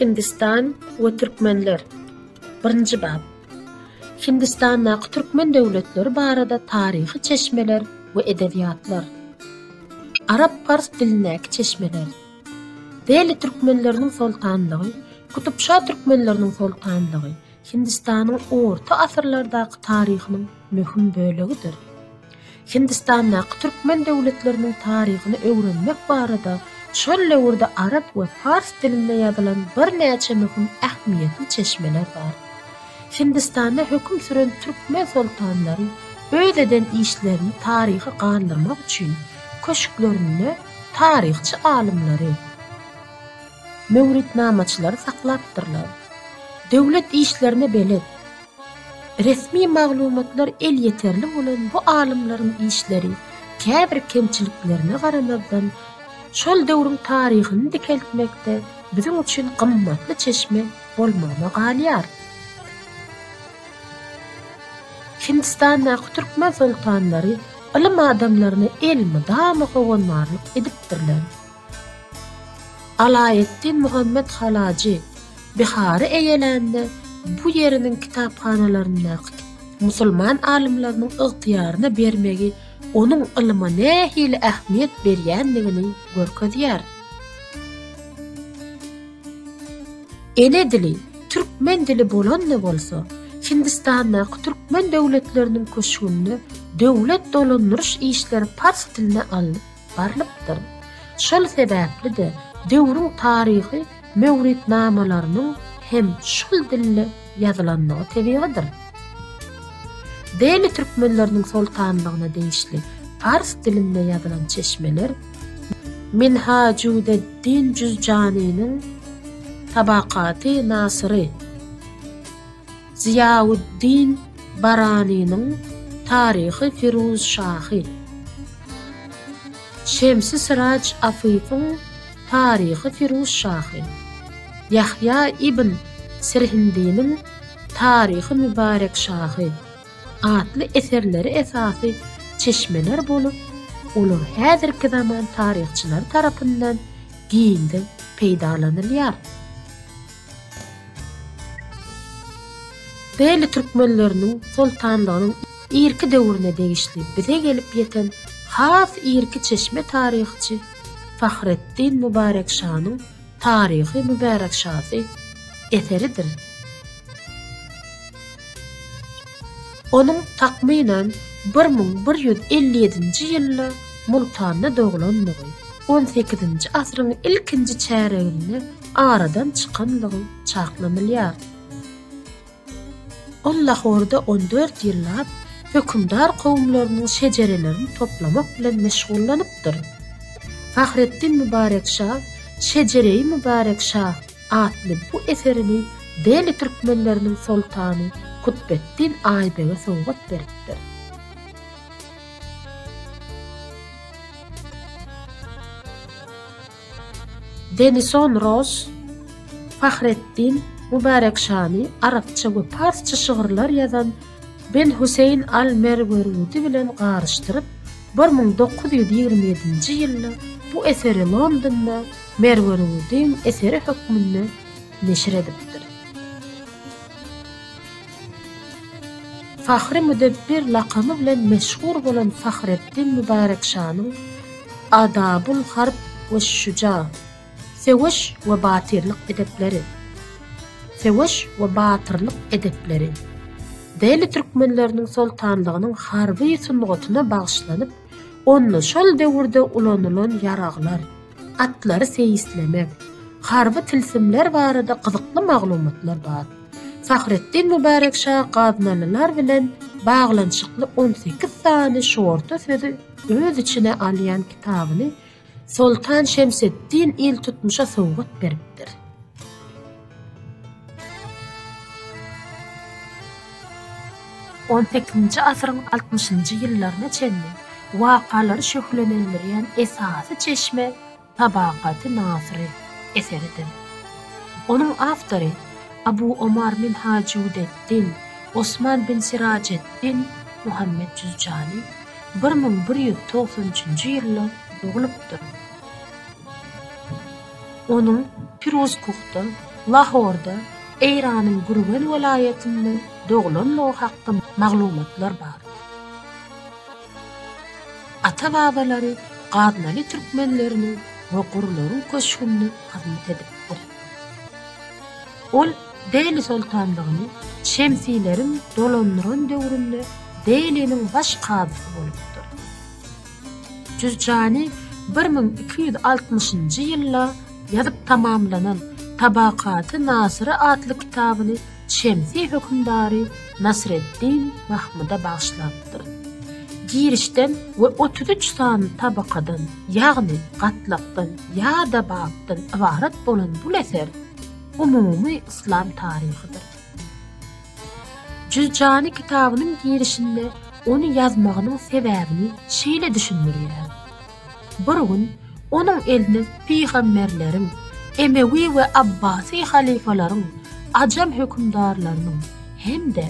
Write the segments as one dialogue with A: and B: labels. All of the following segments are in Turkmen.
A: Hindistan we türkmenler. Birinji bap. Hindistandaky türkmen döwletleri barada taryhy çeşmeler we edebiýatlar. Arap-pars dilindäki çeşmeler. Deli türkmenleriniň soltanlygy, Kutupşa türkmenleriniň soltanlygy Hindistanyň orta asyrlardaky taryhynyň möhüm bölegidir. Hindistandaky türkmen döwletleriniň taryhyny öwrenmek barada şol döwürde arap we pars dilinde ýazylan birnäçe möhüm ähmiýetli çeşmeler bar. Hindistanda höküm süren türkmen soltanlary öz eden işlerini taryha galdyrmak üçin köşklerinde taryhçy alymlary, möwritnamaçylary saklapdyrlar. Döwlet işlerine belet. Resmi maglumatlar elýeterli bolan bu alymlaryň işleri, käbir kemçiliklerine garamazdan, şol döwrüň taryhyny dikeltmekde biziň üçin gymmatly çeşme bolmagyna galýar. Hindistandaky türkmen soltanlary ylym adamlaryna elmydama howandarlyk edipdirler. Alaeddin Muhammet Halajy Bihary eýelände bu ýeriniň kitaphanalaryndaky musulman alymlarynyň ygtyýaryna bermegi onuň ylma nähili ähmiýet berýändigini görkezýär. Ene dili türkmen dili bolanda bolsa, Hindistandaky türkmen döwletleriniň köşgünde döwlet dolandyryş işleri pars dilinde alnyp barylypdyr. Şol sebäpli-de, döwrüň taryhy möwritnamalarynyň hem şol dilde ýazylandygy tebigydyr. Deli türkmenleriniň soltanlygyna degişli pars dilinde ýazylan çeşmeler Minhajudeddin Juzjanynyň Tabakaty Nasyry, Zyýauddin Baranynyň Taryhy Firuzşahy, Şemsi Syraç Afyfyň Taryhy Firuzşahy, Ýahýa ibn Sirhindiniň Taryhy Mübarekşahy atly eserleri esasy çeşmeler bolup, olar häzirki zaman taryhçylary tarapyndan giňden peýdalanylýar. Bely türkmenleriniň soltanlygynyň irki döwrüne degişli bize gelip ýeten has irki çeşme taryhçy Fahreddin Mübarek şanyň Taryhy Mübärek şasy eseridir. Onuň takmynan bir müň bir ýüz elli ýedinji ýylda Multanda doglandygy, on sekizinji asyryň ilkinji çäreginde aradan çykanlygy çaklanylýar. Ol Lahorda on dört ýyllap hökümdar kowumlarynyň şejerelerini toplamak bilen meşgullanypdyr. Fahreddin Mübarek şa Şejereýi Mübarek şa atly bu eserini Deli türkmenleriniň soltany Kutbeddin Aýbege sowgat beripdir. Denison Ross, Fahreddin Mubarek Şani, arapça we parsça şygyrlar ýazan Ben Huseýn al-Merwerudi bilen garyşdyryp, bir müň dokuz ýüz ýigrimi ýedinji ýylda bu eseri Londonda Merwerudyň eseri hökmünde neşir edipdir. Fahri Müdebbir lakamy bilen meşhur bolan Fahreddin Mübärek şanyň Adabul harb we şüja, Söweş we batyrlyk edepleri, Söweş we batyrlyk edepleri, Deli türkmenleriniň soltanlygynyň harby sungatyna bagyşlanyp, onda şol döwürde ulanylan ýaraglar, atlary seýislemek, harby tilsimler barada gyzykly maglumatlar bar. Fahretdin Mübärek şa gaznalylar bilen baglanyşykly on sekiz sany şorta sözi öz içine alýan kitabyny Soltan Şemseddin iltutmuşa sowgat beripdir. On sekizinji asyryň altmyşynjy ýyllaryna çenli wakalary şöhlelendirýän esasy çeşme Tabakaty Nasyry eseridir. Onuň awtory Abu Omar Minhajudeddin Osman bin Sirajeddin Muhammet Juzjani bir müň bir ýüz togsan üçünji ýylda doglupdyr. Onuň Piruzkuhda, Lahorda, Eýranyň Gürgen welaýatynda doglanlygy hakda maglumatlar bar. Ata-babalary gaznaly türkmenleriniň we gurlaryň köşgünde hyzmat edipdir. Ol Dehli soltanlygyny Şemsileriň dolandyran döwründe Dehliniň baş kazysy bolupdyr. Jürjani bir müň iki ýüz altmyşynjy ýylda ýazyp tamamlanan Tabakaty Nasyry atly kitabyny Şemsi hökümdary Nasreddin Mahmyda bagyşlapdyr. Girişden we otuz üç sany tabakadan, ýagny gatlakdan ýa-da bapdan ybarat bolan bul eser umumy yslam taryhydyr. Jüzjani kitabynyň girişinde ony ýazmagynyň sebäbini şeýle düşündirýär. Bir gün onuň eline pygamberleriň, emewi we abbasy halyfalaryň, ajam hökümdarlarynyň hem-de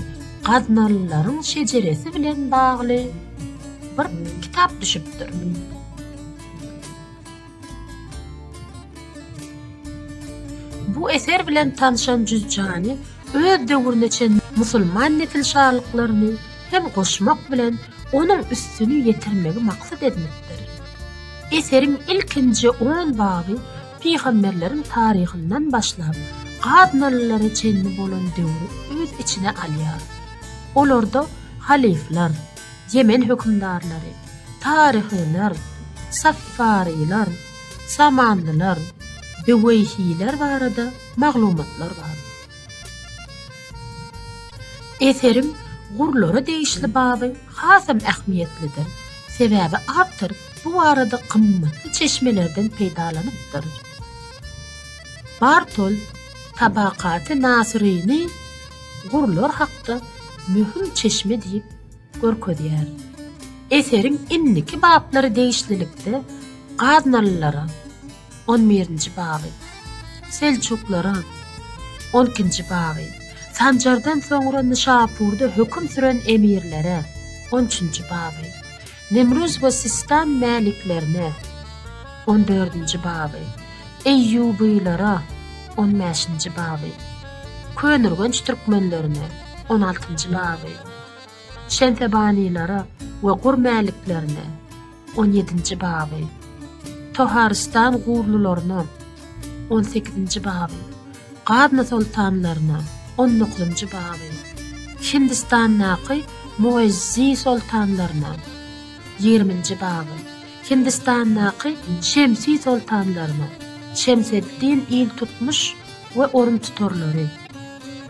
A: gaznalylaryň şejeresi bilen bagly bir kitap düşüpdir. Bu eser bilen tanşan Jüzjany öz döwrüne çenli musulman nesilşalyklaryny hem goşmak bilen onuň üstüni ýetirmegi maksat edinipdir. Eseriň ilkinji on baby pygamberleriň taryhyndan başlap, gaznalylara çenli bolan döwri öz içine alýar. Olarda halyflar, Ýemen hökümdarlary, taryhylar, saffarylar, samanlylar, büweýhiler barada maglumatlar bar. Eseriň gurlara degişli baby hasam ähmiýetlidir, sebäbi awtor bu barada gymmatly çeşmelerden peýdalanypdyr. Bartol Tabakaty Nasyryny gurlar hakda möhüm çeşme diýip görkezýär. Eseriň indiki bablary degişlilikde gaznalylara, On birinji baby. Selçuklaryň On ikinji baby. Sanjardan soňra Nyşapurda höküm süren emirlere On üçünji baby. Nemruz we Sistan mäliklerine On dördünji baby. Eýýubylara On bäşinji baby. Könürgenç türkmenlerine On altynjy baby. Şemsebanylara we Gur mäliklerine. On ýedinji baby. Toharystan gurlylaryna. On sekizinji baby. Gazna soltanlaryna. On dokuzynjy baby. Hindistandaky Muezzi soltanlaryna. Ýigriminji baby. Hindistandaky Şemsi soltanlaryna. Şemseddin iltutmuş we oruntutarlary.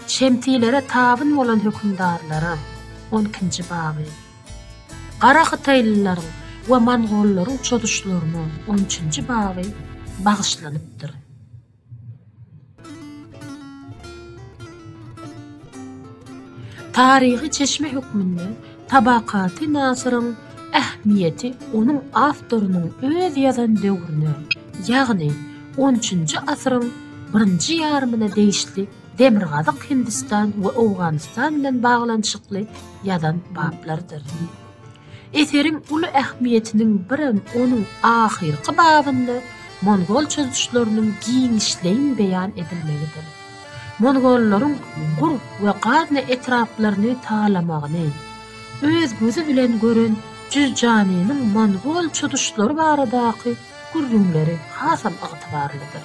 A: Şemsilere tabyn bolan hökümdarlara. On ikinji baby. Gara hytaýlylaryň we mongollaryň çozuşlaryna on üçünji baby bagyşlanypdyr. Taryhy çeşme hökmünde Tabakaty Nasyryň ähmiýeti onuň awtorynyň öz ýazan döwrüne, ýagny on üçünji asyryň birinji ýarymyna degişli Demirgazyk Hindistan we Owganystan bilen baglanyşykly ýazan baplarydyr. Eseriň uly ähmiýetiniň birem onuň ahyrky babynda mongol çozuşlarynyň giňişleýin beýan edilmegidir. Mongollaryň Gur we Gazna etraplaryny talamagyny öz gözi bilen gören Jüzjanynyň mongol çozuşlary baradaky gürrüňleri hasam ygtybarlydyr.